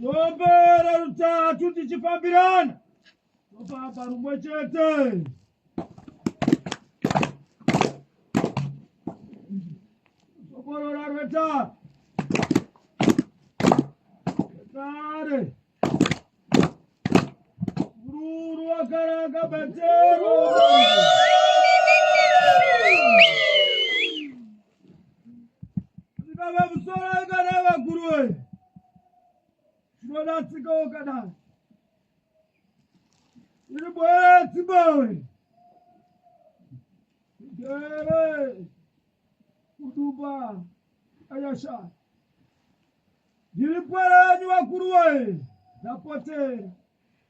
Topera rutatu tichifambirana. Topapa rumwe chete. Sokorora rwetatu. Kare. Ruru wakaraka batero. Baba musoro kana vakuru woye. Zvinodatsika ukadaro. Iri boye dzibawe. Jere. Kuduba. Ayasha. Ndiri pwara vanyu vakuru woye. Ndapotera.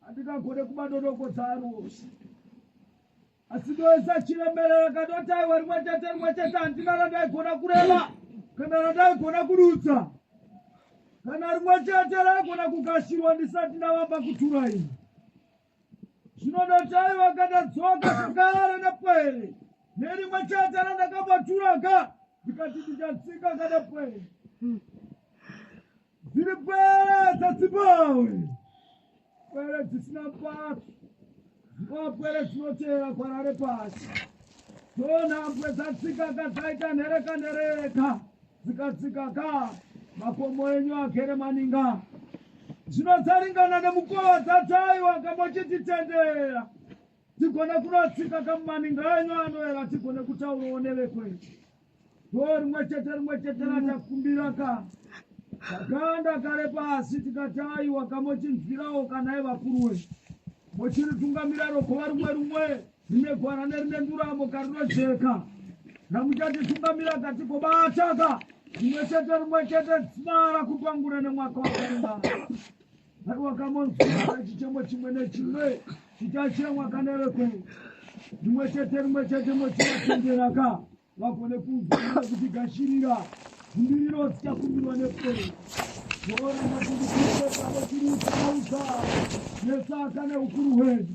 handingagone kumadonongodza ari wose asi ndoisa chiremerera kanotaiwa rimwe chete rimwe chete handina randaigona kureva kana randaigona kudutsa kana rimwe chete raigona kugashirwa ndisati ndavamba kutura ini zvino ndotaiwa kandadzoka kugara nepwere nerimwe chete randakabatura ka ndikati ndichatsika kanepwere dziri pwere dzadzibowe pwere dzisina pasi dzinowa pwere dzinoteera kwarare pasi dzonhambwe dzatsika ka dzaita nhereka nhereka dzikatsika ka makomo enyu agere maninga zvino dzaringana nemukova dzataiwa kamochititendera tigone kunotsika kamumaninga enyu anoera tigone kutaurawo nevekwedu go rimwe chete rimwe chete ratakumbira ka takanda kare pasi tikati aiwa kamochinzwirawo kana evakuru wedu mochiritungamira rogova rumwe rumwe rine gwara nerine nduramo karinojeka ramuchatitungamira katigobataka rimwe chete rimwe chete dzimara kupangura nemwaka wakarembaa Mwari wakamonzwira chichemo chimwe nechimwe chichachemwa kana reko rimwe chete rimwe chete mochivatenderaka vagone kunzwira kuti gashirira zvimbiriro dzichakumbirwa nepfero zvooramba kuti kueaa chiri uchaauza nesaka neukuru hwedu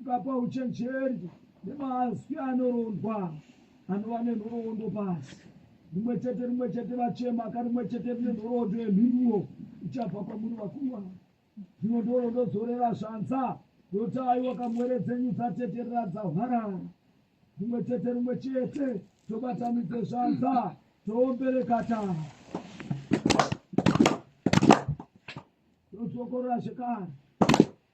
Ukapa uchenjeri nemazwi anorondwa anova nenhoroondo pasi rimwe chete rimwe chete vachema ka rimwe chete rine nhoroondo yemhinduro ichabva kwamuri vakuru ava dzimwe ndoro ndodzorera zvanza ndotai wakamwere dzenyu dzateterera dzahwarara rimwe chete rimwe chete tobatanidze zvanza toomberekata todzokorora zvekare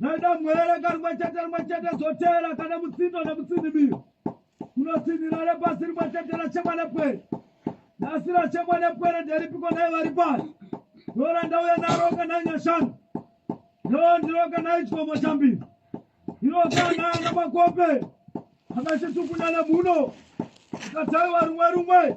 nedamwere karimwe chete rimwe chete zvoteera kana mutsindo nemutsinimiro kunotsinhira repasi rimwe chete rachemwa nepwere nhasi rachemwa nepwere nderipiko nai vari pano ndora ndauya naro kana nyashanu ndoo ndiro kana ichikomo chambiri ndiro kana ana makope akachitukunyana muno akatsaiwa rumwe rumwe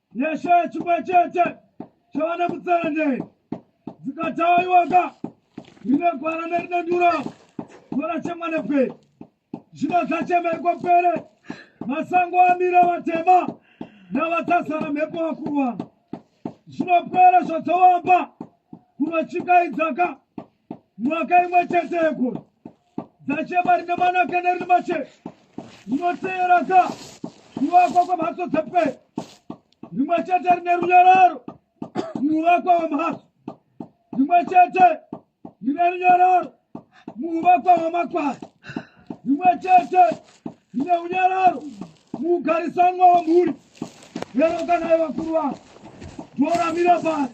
yashaya chimwe chete chavana mutserendei dzikatawa iwaka rine gwara nerine nduro gora chemwanepe zvino zvachemerwa pere masango amira vatema navatasara mhepo vakurwana zvinopera zvadzawamba kunochikaidzaka mwaka imwe chete yegore dzachema rine manaka nerine mache rinoteeraka kuvakwa kwemhatso dzepe rimwe chete rine runyararo muvakwa wemhatso rimwe chete rine runyararo muvakwa wemakwai rimwe chete rine unyararo muugarisanwa wemhuri lero kana yevakuru vavo ndoramira pasi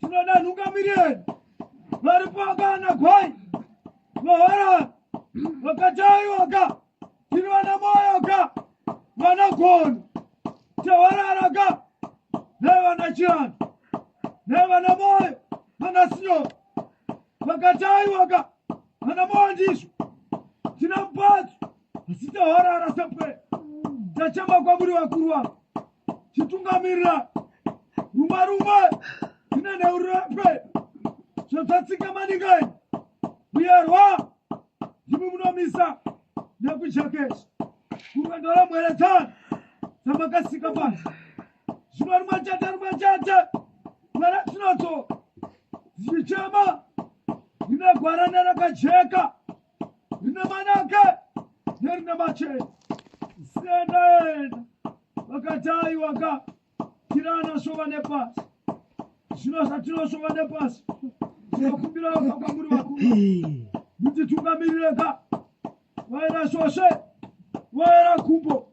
tinoda nhungamiriri vari pamba nagwai mahara vakataiwaka tiri vana moyoka vanagona tewararaka nevana chiana nevana moyo vana sino vakataiwaka vana moyo ndizvo tina mupatso asi taharara sepwe tachema kwamuri vakuru vavo chitungamirira rumwe rumwe tine neurapwe zvotatsika maningai muyerwa ndimi munomisa nekujakesha kurwendo ramweretsana dzamakasika pasi zvino rumwe chete rumwe chete mwana tinoto dzichema ndinegwarana rakajeka rine manake nerine machena siendaenda vakati aiwa ka kira anoshova nepasi zvino zvatinoshova nepasi tinokumbira ka kwamuri vakuru kuti tungamirire ka vaera shoshe vaera kumbo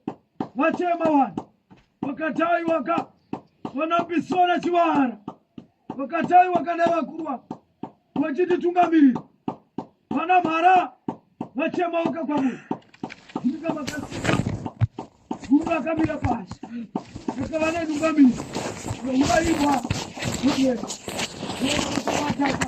vachema vanhu vakati aiwa ka vanambisona chivara vakati aiwa kana vakuru vako vachititungamirira vana mhara vachemauka kwamuri nyika makasika guru vakamira pasi akava nenungamiri nouraibwa nokuenda nokuataka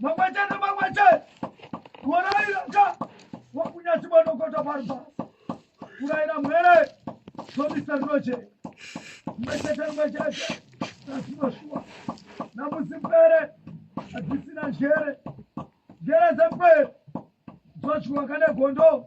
Mangwachana mangwachana. Waraira ka. Wakunya tiba no kota barba. Kuraira mwere. So Mr. Roger. Mangwachana mangwachana. Nasima shuwa. Namusi pere. Atisina jere. Jere za pere. Zochwa kane gondo.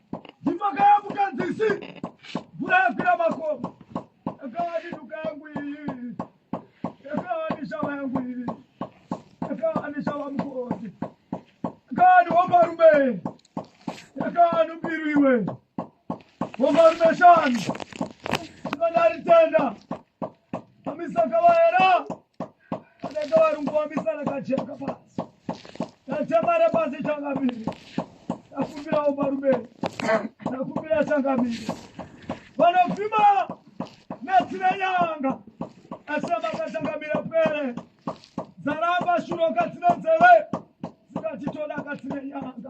Ndipaka yangu kanzisi. Mvura yakwira makomo. Yakawa ni duka yangu iyi. Yakawa ni shava yangu iyi. Yakawa ni shava mukoti. Yakawa ni womba rume. Yakawa ni mbiru iwe. Womba rume shani. Ndinodari tenda. Amisaka vaera. Yakawa ni anenge varungu vamisana kajeka pasi tatemare pasi changamire takumbirawo marume takumbira changamire vanofima netsine nyanga asi amakachangamira pwere dzaramba shuro katsine nzeve dzikatitoda katsine nyanga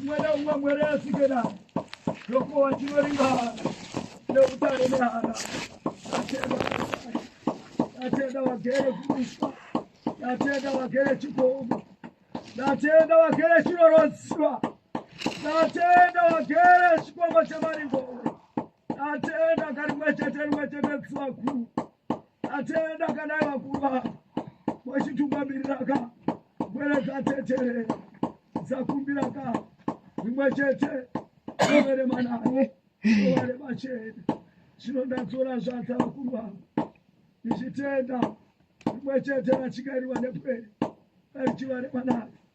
umwe neumwe mwere asike nawo ndokuwa chinoringana neutare nehana ndatenda vagere kumuswa ndatenda vagere chikomo ndatenda vagere chinorodziwa ndatenda vagere chikomo chemaringowe Atenda kari mwechete mwechete tsuwaku. Atenda kana vakuva. Mwechituka miriraka. Mwere katetere. Zakumbira ka. Mwechete. Mwere mana. Mwere machete. Chino ndatsora zvatsa vakuva. Ndichitenda. Mwechete vachikairiwa nepwere. Kari chivare manaka.